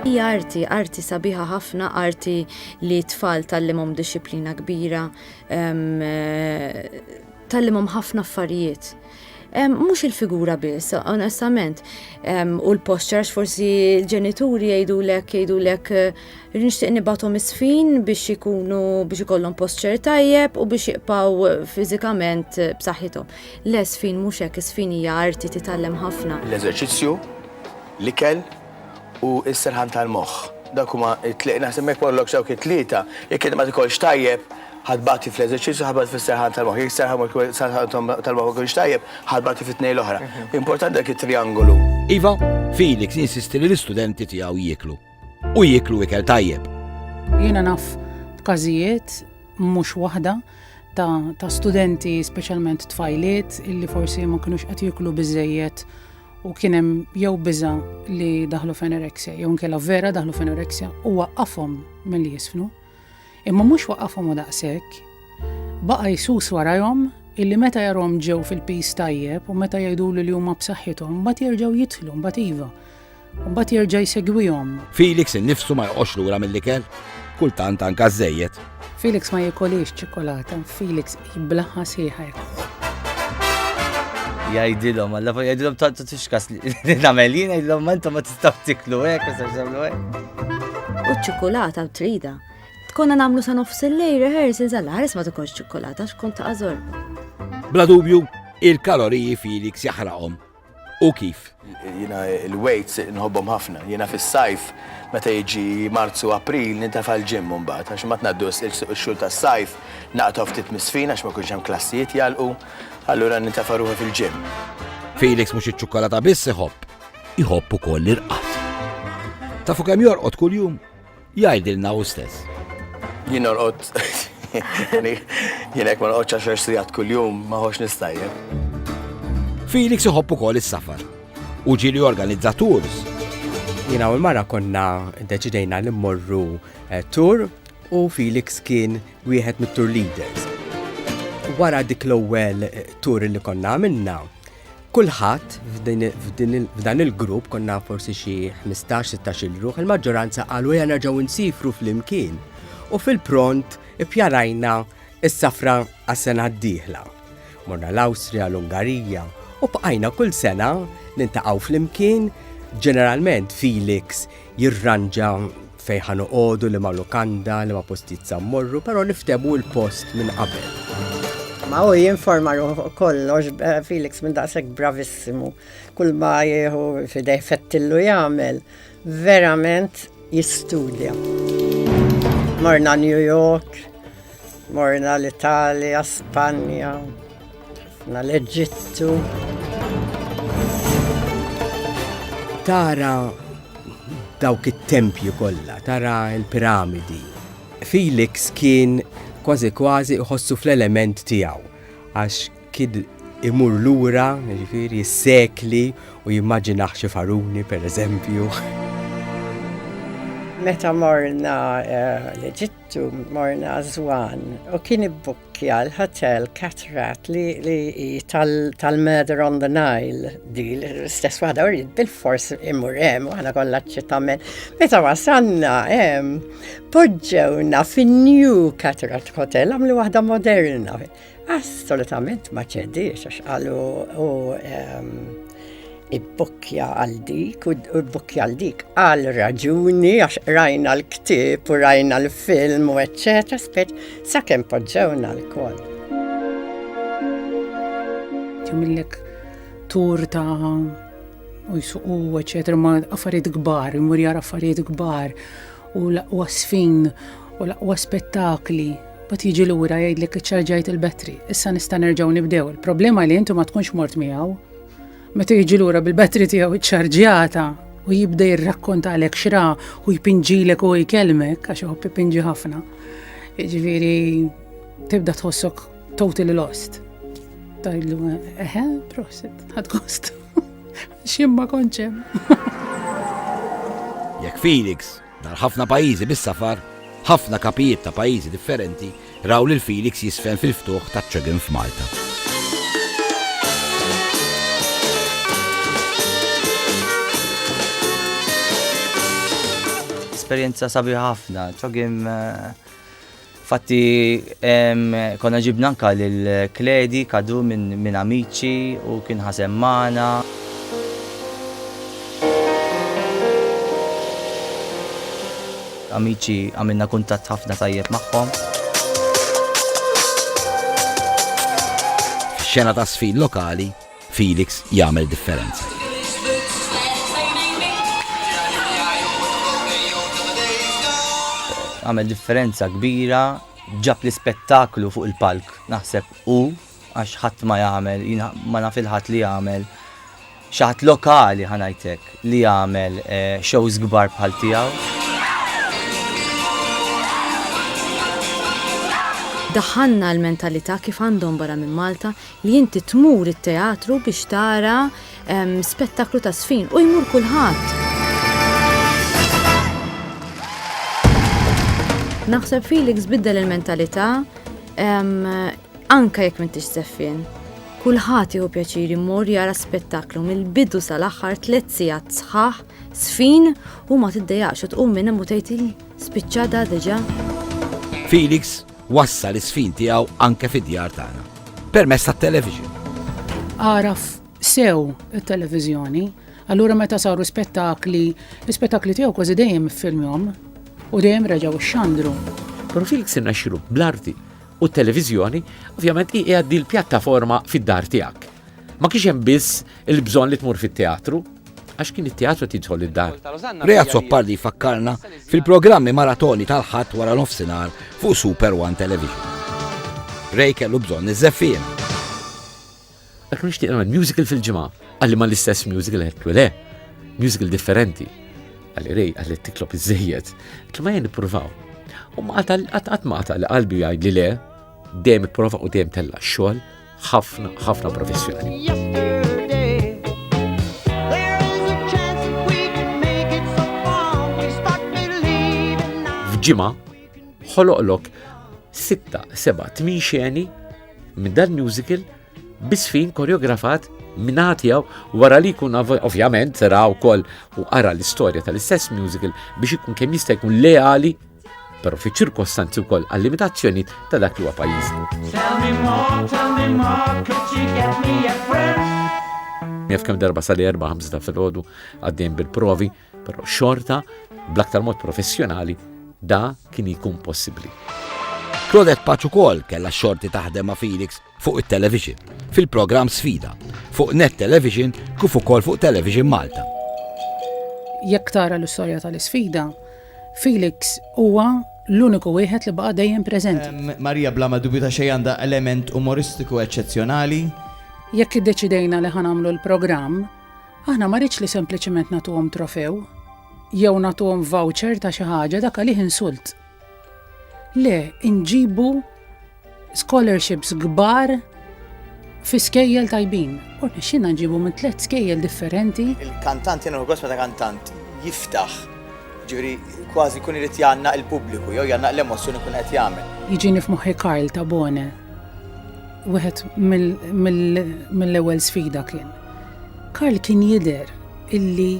S1: Hija arti, arti sabiħa ħafna, arti li tfal tal-limhom disciplina kbira, ehm, Tgħallimhom ħafna affarijiet. Mhux il-figura biss, onestament, u l-posture, forsi l-ġenituri jgħidulek jgħidulek nixtieq nibathom isfin biex ikunu biex ikollhom posture tajjeb u biex jibqgħu fiżikament b'saħħithom. Le sfin mhux hekk, isfin hija arti titgħallem ħafna. L-eżerċizzju, l-ikel, u s-serħan tal-moħħ. Dawk huma t-tliet, naħseb jekk ma jkollokx dawk it-tlieta, jekk inti ma tikolx tajjeb, ħa tbati fl-eżerċizzju, ħa tbati fis-serħan tal-moħħ. Jekk is-serħan tal-moħħ ma jkunx tajjeb, ħa tbati fit-tnejn l-oħra. Importanti dak it-trijangolu. Iva, Felix jinsisti li l-istudenti tiegħu jieklu. U jieklu ikel tajjeb. Jiena naf b'każijiet mhux waħda ta' studenti, speċjalment tfajliet, illi forsi ma kinux qed jieklu biżejjed u kien hemm jew biża li daħlu f'anorexia, jew nkella vera daħlu f'anorexia u waqqafhom milli jisfnu. Imma mhux waqqafhom u daqshekk, baqa' jsus warajhom illi meta jarhom ġew fil-pis tajjeb u meta jgħidulu li huma b'saħħithom mbagħad jerġgħu jidħlu mbagħad iva. Mbagħad jerġa' jsegwihom. Felix innifsu ma joqgħodx lura mill-ikel, kultant anka żejjed. Felix ma jikolix ċikolata, Felix Jiblaha sieħa jħobb. Jgħidilhom, alla fuq jgħidilhom tant tixkas li nagħmel jien jgħidilhom ma intom ma tistgħu tiklu hekk, ma tistgħux tagħmlu hekk. U ċ-ċokolata trida. Tkonna nagħmlu sa nofs il-lej rehearsals għal ħares ma tkunx ċokolata xkun ta' għażor. Bla dubju, il-kaloriji Felix jaħraqhom u kif. Jiena l-weights nħobbhom ħafna. Jiena fis-sajf meta jiġi Marzu April nintefa' l-gym mbagħad għax imbagħad ngħaddu x-xhur tas-sajf naqtgħu ftit mis-sfin għax ma jkunx hemm klassijiet jagħlqu, allura nintefa' ruħi fil-gym. Felix mhux iċ-ċukkalata biss iħobb, iħobb ukoll l-irqad. Tafu kemm jorqod kuljum? Jgħidilna hu stess. Jien norqod jien hekk ma norqodx għaxar sigħat kuljum ma ħox nistajjeb. Felix iħobb ukoll is-safar u ġieli organizza tours. Jiena u l-mara konna deċidejna li mmorru eh, tour u Felix kien wieħed mit-tour leaders. Wara dik l-ewwel eh, tour li konna għamilna, Kulħadd f'dan il-grupp konna forsi xi 15-16 ruħ, il-maġġoranza qalu ja nerġgħu nsifru flimkien. U fil-pront ippjanajna s-safra għas-sena d-dieħla. Morna l-Awstrija, l-Ungarija, u bqajna kull sena nintaqgħu flimkien, ġeneralment Felix jirranġa fejn ħa noqogħdu, liema lukanda, liema postijiet sa mmorru, però niftehmu l-post minn qabel. Ma u jinforma ruħu kollox eh, Felix minn daqshekk bravissimu. Kull ma jieħu fidej fettillu jagħmel, verament jistudja. Morna New York, Morna l-Italja, Spanja, na l-Eġittu. Tara dawk it-tempju kollha, tara l-piramidi. Felix kien kważi kważi iħossu fl-element tiegħu għax kien imur lura, ġifieri s-sekli u jimmaġinaħ xi faruni pereżempju. Meta morna eh, l-Eġittu Tu morna żwan u kien ibbukkja l-hotel Catrat li tal-Murder on the Nile di l-istess waħda u bil-fors imur hemm u aħna kollha ċitamen. Meta wasalna hemm poġġewna fin-New Catrat Hotel għamlu waħda moderna. Assolutament ma ċediex għax qalu u ehm, ibbukkja għal dik u ibbukkja għal dik għal raġuni għax rajna l-ktib u rajna l-film u eċċetera spet sakemm poġġewna l-kol. Timillek tur ta' u jsuqu eċċetera ma' affarijiet kbar, imur jara affarijiet kbar u laqwa sfin u laqwa spettakli Mbagħad jiġi lura jgħidlek iċċarġajt il-battery, issa nista' nerġgħu nibdew. Il-problema li inti ma tkunx mort miegħu. Meta jiġi lura bil-battery tiegħu iċċarġjata u jibda jirrakkonta għalek xra u jpinġilek u jkelmek, għax uħob jpinġi ħafna. Ġviri, tibda tħossok totally lost. Tajlu, eħe, prosit, ħad kost. Ximma konċem. Jek Felix Nhar ħafna pajjiżi bis-safar, ħafna kapijiet ta' pajjiżi differenti raw lil Felix jiżfen fil-ftuħ taċ-CHOGM f'Malta. Esperjenza sabiħa ħafna. CHOGM. Fatti konna ġibna anka lil Kledi kadu minn Amici u kien ħasem magħna. Amici għamilna kuntatt ħafna tajjeb magħhom. F'xena ta' sfin lokali, Felix jagħmel differenza. Għamel differenza kbira, ġab l-ispettaklu fuq il-palk, naħseb u għax ħadd ma jagħmel, ma naf il-ħadd li jagħmel xaħat lokali ħanajtek li jagħmel eh, shows kbar bħal tiegħu. Daħanna l-mentalità kif għandhom barra minn Malta li inti tmur it-teatru biex tara spettaklu ta' żfin u jmur kulħadd. Naħseb Felix biddel il-mentalità anke jekk m'intix żeffien. Kulħadd jieħu pjaċir imur jara spettaklu mill-bidu sal-aħħar tliet sigħat sħaħ, sfin u ma tiddejaqx u tqum minn hemm u tgħid spiċċa da diġà. Felix Wassal is-sfin tiegħu anke fid-djar tagħna permezz tat-television. Għaraf sew it-televiżjoni, allura meta saru spettakli, l-spettakli tiegħu kważi dejjem filmjom u dejjem reġgħu xandru. Pero Felix irnexxilu bl-arti u t-televiżjoni, ovvjament hi għaddi l-pjattaforma fid-dar tiegħek. Ma kienx hemm biss il-bżonn li tmur fit-teatru, għax kien it-teatru tidħol id-dar. Ray Azzopardi jfakkarna fil-programmi maratoni tal-ħadd wara nofsinhar fuq Super One Television. Ray kellu bżonn iż-żeffien. Dak nixtieq nagħmel musical fil-ġimgħa, għalli ma l-istess musical għedtu le, musical differenti. Għalli Ray għalli tiklop iż-żejjed, ma jien nippruvaw. U ma għatal għatal qalbi għajd li le, dejjem ipprova u dejjem tella xogħol ħafna ħafna professjonali. ġimgħa ħoloqlok 6-7-8 xeni minn dan musical bisfin koreografat minn għatijaw wara li kun ovvjament sera u koll u għara l-istoria tal-istess musical biex ikun kemm jista' jkun leali però fi ċirkostanzi wkoll għal limitazzjoni ta' dak li huwa pajjiż. Jaf kemm darba sali erba' ħamsa fil-ħodu għaddejn bil-provi, però xorta bl-aktar mod professjonali da kien jkun possibbli. Claudette Paċ ukoll kellha xorti taħdem ma' Felix fuq it-televixin, fil-programm Sfida, fuq Net Television kif ukoll fuq Television Malta. Jekk tara l-istorja tal-isfida, Felix huwa l-uniku wieħed li baqa' dejjem preżenti. Marija bla ma dubju ta' xejn għandha element umoristiku eċċezzjonali. Jekk iddeċidejna li ħa nagħmlu l-programm, aħna ma ridx li sempliċiment nagħtuhom trofew jew nagħtuhom voucher ta' xi ħaġa dak għalih insult. Le, inġibu scholarships kbar fi skejjel tajbin. U rnexxina nġibu minn tliet skejjel differenti. Il-kantant jena għos meta kantant jiftaħ ġuri kważi kun irid janna il-pubbliku jew janna l-emozzjoni kun qed jagħmel. Jiġini f'moħħi Karl ta' Bone. Wieħed mill-ewwel sfida kien. Karl kien jidher illi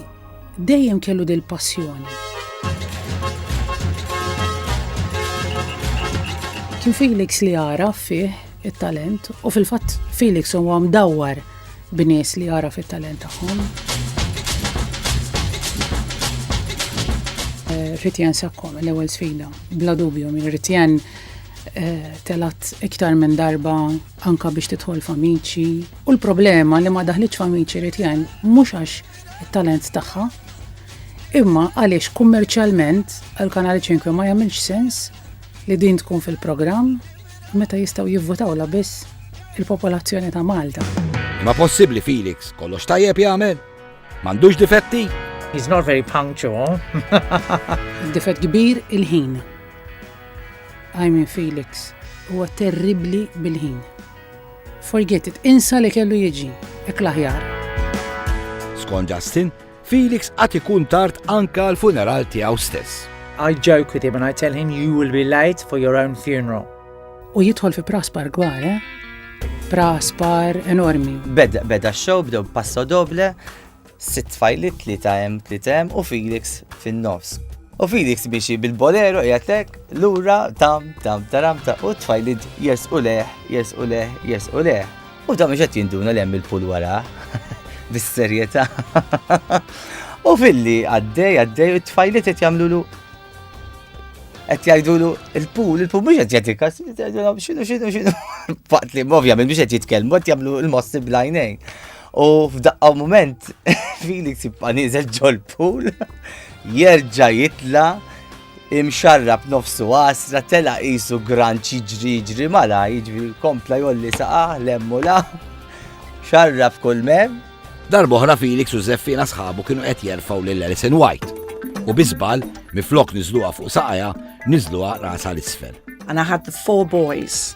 S1: Dejjem kellu dil-passjoni. Kien Felix li għaraf fih it-talent u fil-fatt Felix huwa mdawwar b'nies li għaraf it-talent tagħhom. Eh, Ritjen sakkom l-ewwel sfida, bla dubju minn Ritjen eh, telat iktar minn darba anka biex tidħol famiċi. U l-problema li ma daħlitx famiċi Ritjen mhux għax it-talent tagħha. Imma għaliex kummerċjalment għal kanali 5 ma jagħmilx sens li din tkun fil-programm meta jistgħu jivvutaw la biss il-popolazzjoni ta' Malta. Ma possibbli Felix, kollox tajjeb jagħmel? M'għandux difetti? He's not very punctual. Difett kbir il-ħin. I mean Felix, huwa terribli bil-ħin. Forget it, insa li kellu jiġi, hekk l-aħjar. Skont Justin, Felix għat ikun tard anka l-funeral tiegħu stess. I joke with him and I tell him you will be late for your own funeral. U jidħol fi praspar gwar, eh? Praspar enormi. Beda, beda show, bdew passo doble, Sitt tfajliet, tlieta hemm, tlieta hemm u Felix fin-nofs. U Felix miexi bil-bolero qiegħed lek lura tam tam taram ta' u tfajliet jersqu leħ, jersqu leħ, jersqu leħ. U ta' mhux qed jinduna li hemm il-pul wara. Bis-serjetà. U filli għaddej għaddej u tfajliet qed jagħmlulu qed jgħidulu il-pool, il-pool mhux qed jagħti kas, x'inhu x'inhu x'inhu. Faqt li ovvjament mhux qed jitkellmu qed jagħmlu l-mossi blajnejn. U f'daqqa moment, Felix jibqa' nieżel ġol-pool, jerġa' jitla' imxarrab nofsu għasra tela qisu gran ċiġri ġri mala jiġri kompla jolli saqaħ lemmu la xarrab kull mem. Darboħra Felix u Zeffina sħabu kienu qed jerfaw lil Alison White u bizbal miflok nizluha fuq saqaja nizluha rasa l-isfel. And I had the four boys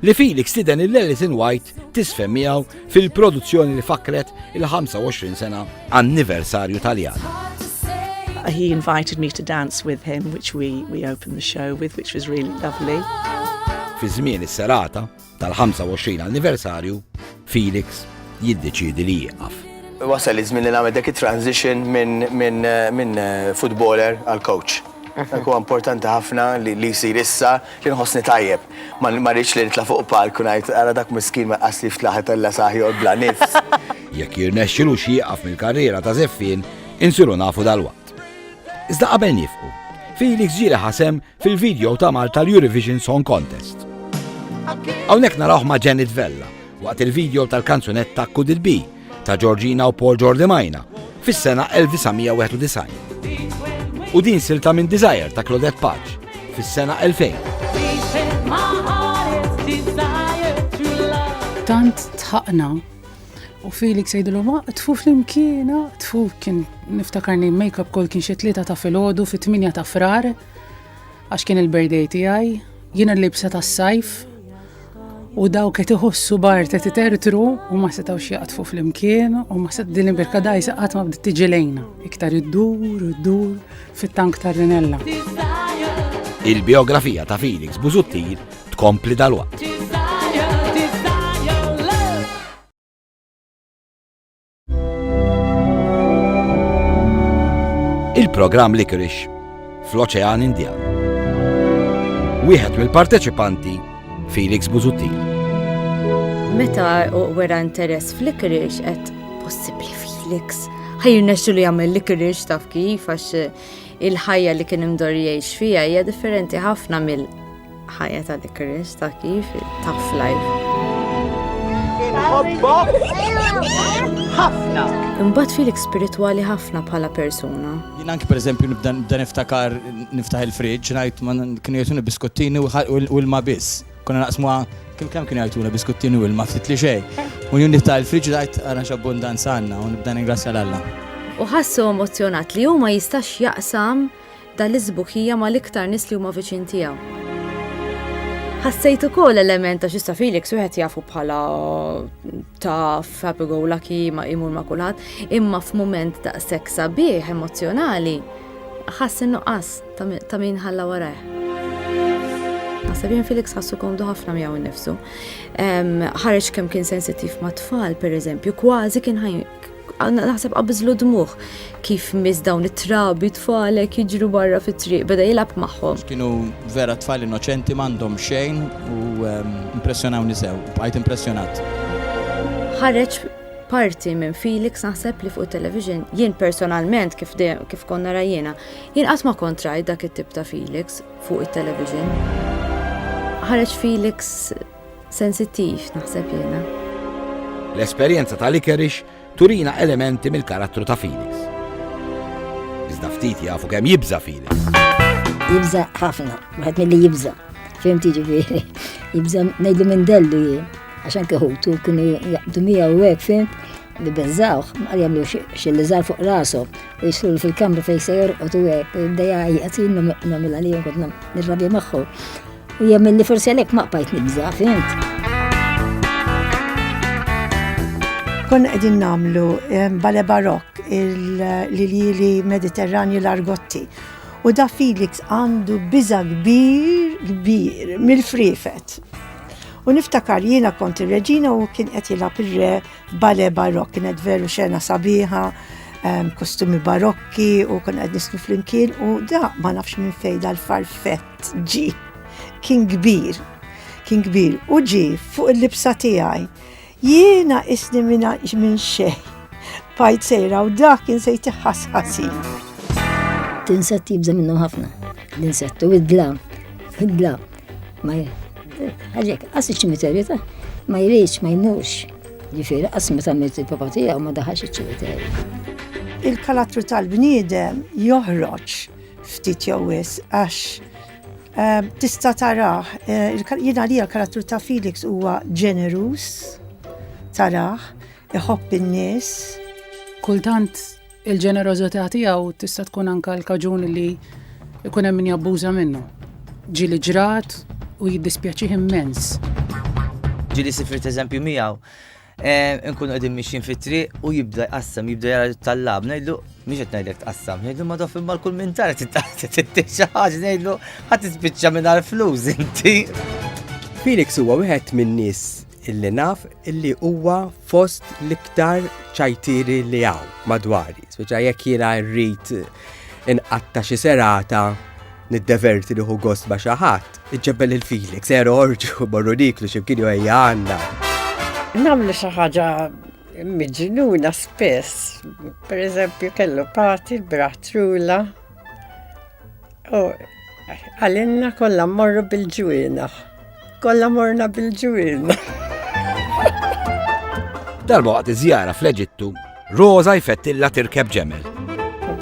S1: li Felix stieden lil Alison White tiżfen miegħu fil-produzzjoni li fakkret il-25 sena anniversarju Taljan. He invited me to dance with him, which we, we opened the show with, which was really lovely. Fi żmien is-serata tal-25 anniversarju, Felix jiddeċiedi li jieqaf. Wasal iż-żmien li nagħmel dak it-transition minn futboler għal coach. Dak huwa importanti ħafna li jsir issa li nħossni tajjeb. Ma rridx li nitla' fuq palk u ngħid, ara dak miskien ma jqasslix fl-aħħar tal-lasaħ joqgħod bla nifs. Jekk jirnexxilux jieqaf mill-karriera ta' żeffien, insiru nafu dalwaqt. Iżda qabel nifqu, Felix ġieli ħasem fil-video ta' Malta l-Eurovision Song Contest. Hawnhekk narawh ma' Janet Vella waqt il-video tal-kanzunetta Could It Be ta' Georgina u Paul Jordi Majna fis-sena 1991. U din silta minn Desire ta' Claudette Paġ fis-sena 2000. Tant tħaqna U Felix jgħidilhom ma tfu flimkiena, tfu kien niftakarni make-up kol kien xi tlieta ta' filgħodu fit-8 ta' frar għax kien il-birthday tiegħi, jiena libsa tas-sajf u daw qed iħossu bar qed itertru u ma setgħux jaqtfu flimkien u ma set din il-birka dajsa qatt ma bdiet tiġi lejna iktar iddur iddur fit-tank tar-rinella. Il-biografija ta' Felix Busuttil tkompli dalwaqt. Il-programm Licorice fl-Oċean Indjan. Wieħed mill-parteċipanti Felix Buzuttil. Meta wera interess fl-Licorice qed possibbli Felix ħajrna xu li għamil li kirriġ taf kif għax eh, il-ħajja li kien imdor jgħix fija hija differenti ħafna mill ħajja ta' dik ir-risk ta' kif tough life. Inħobbok ħafna. Imbagħad filek spiritwali ħafna bħala persuna. Jien anki pereżempju nibda nibda niftakar niftaħ il-friġġ ngħid ma kienu jagħtuni biskuttini u ħa- u l- u l-ma biss. Konna naqsmuha kemm kemm kienu jagħtuna biskuttini u l-ma ftit li xejn. U jien niftaħ il-friġġ ngħid ara x'abbundanza għandna u nibda ningrazzja l Alla. u ħassu emozzjonat li hu ma jistax jaqsam Dan l-isbuħija mal-iktar nies li huma viċin tiegħu. Ħassejt ukoll element ta' xista Felix wieħed jafu bħala taf, happy go lucky, ma imur ma' kulħadd, imma f'mument ta' sek sabiħ emozjonali, ħass nuqqas ta' min ħalla warajh. Sabin Felix ħassu komdu ħafna miegħu nnifsu. Ħareġ kemm kien sensittiv ma' tfal, per eżempju, kważi kien Għanna naħseb qabizlu dmuħ kif mis dawn it-trabi tfalek jiġru barra fit-triq beda jilab magħhom. Kienu vera tfal innoċenti m'għandhom xejn u ehm, impressjonawni sew, bqajt impressjonat. Ħareġ parti minn Felix naħseb li fuq television jien personalment kif kif konna rajjena jien qatt ma kontraj dak it-tip ta' Felix fuq it-television. Ħareġ Felix Sensittiv, naħseb jiena. L-esperjenza ta' Licorice turina elementi mill-karattru ta' Felix. Iżda ftit jafu kemm jibża' Felix. Jibża' ħafna, wieħed milli jibża'. Fim tiġifieri, jibża' ngħidu minn dellu jien, għax anke ħutu kienu jaqbdu miegħu hekk fim li bezzawħ, ma jagħmlu xilli żar fuq rasu, u jisru fil-kamra fejn se jorqod u hekk, dejja jgħatin nagħmel għalihom kont nirrabja magħhom. U jemmen li forsi għalek ma qbajt nibza, fint? Kon għedin namlu bale barok il-lili mediterrani l-argotti. U da Felix għandu biza kbir, kbir, mill-frifet. U niftakar jiena kont il-reġina u kien qed jilgħab ir-re bale barok, kienet veru xena sabiħa, kostumi barokki u kon qed nisnu flimkien u da ma nafx minn fejda l-farfett Ġi, kien kbir, kien kbir, u ġi fuq il-libsa tiegħi. Jiena isni minn xejn. Pajt sejra u dak kien se jtiħħas ħasin. Tinsett jibża minnhom ħafna. L-insettu, id-dla, id-dla. Ma għalek, għas iċ-ċimiterju ta' ma jridx, ma jnux. Ġifieri, għas ma tagħmel il-papa tiegħu ma daħax iċ-ċimiterju. Il-kalattru tal-bniedem joħroġ ftit jew wisq għax ehm, tista' tarah, eh, jiena li l-karattru ta' Felix huwa ġeneruż, tarah, iħobb in-nies. Kultant il-ġenerożità tiegħu tista' tkun anka l-kaġun li jkun hemm min jabbuża minnu. Ġili ġrat u jiddispjaċih immens. Ġili sifriet eżempju miegħu Inkunu qegħdin mixjin fit-triq u jibda jqassam, jibda jara tal-lab, ngħidlu mhix qed ngħidlek tqassam, ngħidlu ma dof imma l-kull minn tara tittiq xi ħaġa ngħidlu ħadd tispiċċa mingħajr flus inti. Felix huwa wieħed min-nies illi naf illi huwa fost l-iktar ċajtieri li hawn madwari. Speċa jekk jiena rrid inqatta xi serata niddeverti li hu gost ma' xi ħadd, Iġġebbel lil Felix, ser orġu morru niklu x'imkien jew ejja għandna. Nagħmlu xi ħaġa miġnuna spess. Per eżempju kellu pati l-bratrula. U għalinna kollha morru bil-ġwina. Kollha morna bil-ġwina. Darba waqt iż-żjara fl-Eġittu, Rosa jfettilla tirkeb ġemel.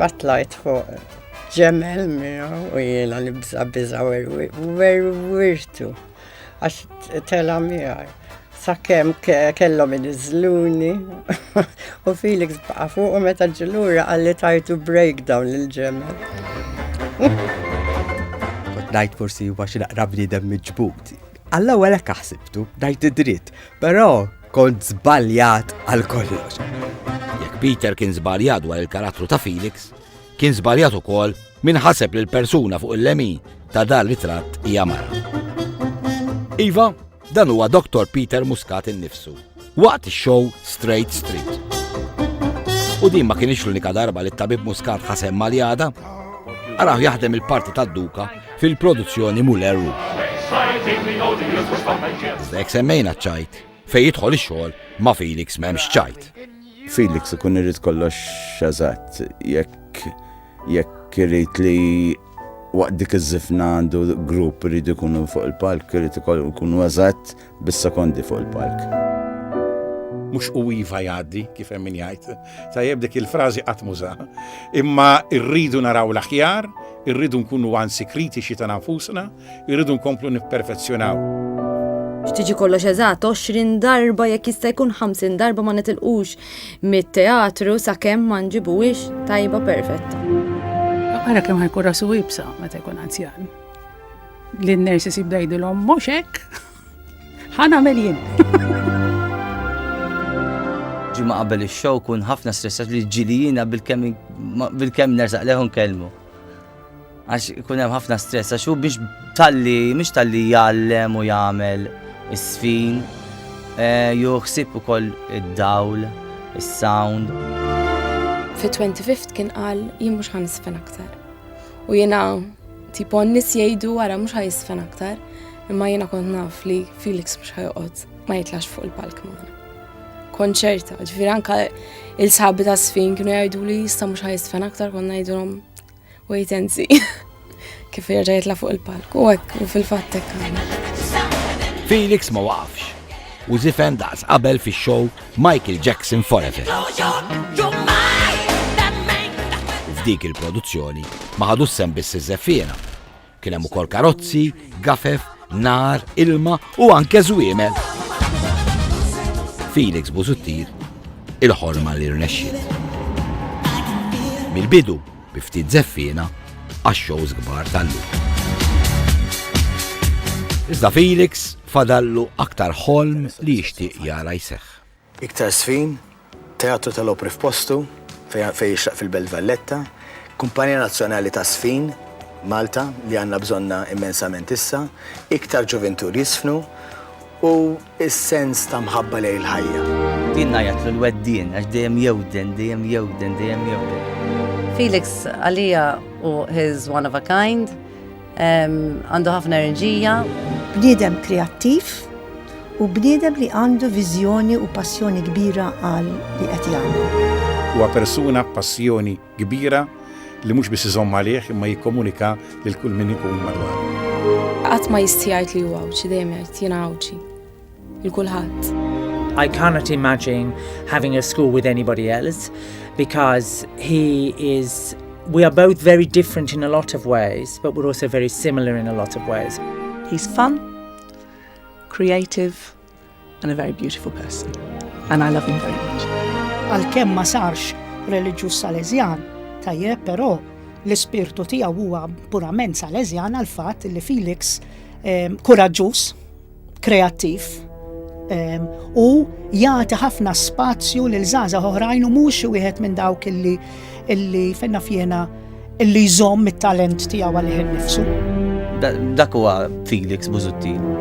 S1: Batlajt fuq Ġemel miegħu u jiena nibża' biża' werwirtu għax tela' miegħi. Sakemm kellhom iniżluni u Felix baqa' fuq u meta ġilura għalli tajtu breakdown lil ġemel. Najt forsi huwa xi naqra bniedem miġbud. Alla wara kaħsibtu, najt id-dritt, però kont żbaljat għal kollox. Jekk Peter kien żbaljat dwar il-karattru ta' Felix, Kien żbaljat ukoll min ħaseb li l-persuna fuq il-lemin ta' dan ritratt hija mara. Iva, dan huwa Dr. Peter Muscat innifsu, waqt ix-show Straight Street. U din ma kienx l-unika darba li t-tabib Muscat ħasem maljada, għaraw jaħdem il-parti tad-duka fil-produzzjoni Muller Rouge. Iżda jek semmejna ċajt, fej jidħol ix-xogħol ma' Felix m'hemmx ċajt. Felix ikun irid kollox eżatt, jekk jekk irid li waqt dik iż-żifna għandu grupp irid ikunu fuq il-palk, irid ikunu eżatt bis-sekondi fuq il-palk. Mhux u iva jgħaddi, kif hemm min jgħid. Tajjeb dik il-frażi qatt m'użaha. Imma rridu naraw l-aħjar, irridu nkunu anzi kritiċi ta' nfusna, irridu nkomplu nipperfezzjonaw. X'tiġi kollox eżatt 20 darba jekk jista' jkun 50 darba ma nitilqux mit-teatru sakemm ma nġibuhiex tajba perfetta. Ara kemm ħajkun rasu ibsa meta jkun anzjan. Li n-nersi sib dajdilhom mhux hekk. Ħana melin. Ġimma qabel ix-show kun ħafna stressat li ġilijina bil-kemm bil-kemm nersaq leħun kelmu. Għax ikun hemm ħafna stress għax hu biex talli mhux talli jgħallem u jagħmel is-sfin eh, juħsib ukoll id-dawl, is-sound. Fi 25 kien qal jien mhux ħan isfen aktar. U jiena tipo nis jgħidu wara mhux ħaj isfen aktar, imma jiena kont naf li Felix mhux ħajqod ma jitlax fuq il-palk magħna. Konċerta, ġifier anka il-sabi ta' sfin kienu jgħidu li jista' mhux ħaj isfen aktar konna jgħidulhom Wait and see. Kif jerġa' jitla' fuq il-palk. U hekk, u fil-fatt hekk. Felix ma waqafx. U zifen daqs qabel fix-show Michael Jackson Forever. F'dik il-produzzjoni ma ħadu sem biss iż-żeffiena Kien hemm ukoll karozzi, gafef, nar, ilma u anke żwiemel. Felix Busuttir il-ħolma li rnexxi. Mill-bidu, biftit zeffina, għax-shows kbar tal-lum. Iżda Felix fadallu aktar ħolm li jixtieq jara jseħħ. Iktar 's fin, Teatru tal-Opri f'postu, fejn fejn jixraq fil-Belt Valletta, Kumpanija Nazzjonali ta' 's fin, Malta, li għandna bżonnha immensament issa, iktar ġuvintu li jiżfnu, u s-sens ta' mħabba lejn il-ħajja. Jien ngħajjatlu l-weddien għax dejjem jewden, dejjem jewden, dejjem jewden. Felix għalija hu his one of a kind. Għandu ħafna enerġija. Bniedem kreattiv u bniedem li għandu viżjoni u passjoni kbira għal li qed jagħmel. Huwa persuna b'passjoni kbira li mhux biss iżomm għalih imma jikkomunika lil kull min ikun madwaru. Qatt ma jistħi jgħid li hu Għawdxi, dejjem jgħid jiena Għawdxi. Il-kulħadd. I cannot imagine having a school with anybody else because he is we are both very different in a lot of ways, but we're also very similar in a lot of ways. He's fun, creative, and a very beautiful person. And I love him very much. Għal-kem ma sarx reliġjuż Salesian, tajjeb però l-ispirtu tiegħu huwa purament Salesian għal fatt li Felix eh, kuraġġuż kreattiv ehm, u jagħti ħafna spazju lil żgħażagħ oħrajn u mhux xi wieħed minn dawk illi illi fejna fjena illi jżomm it-talent tiegħu għalih innifsu. Dak huwa Felix Buzuttin.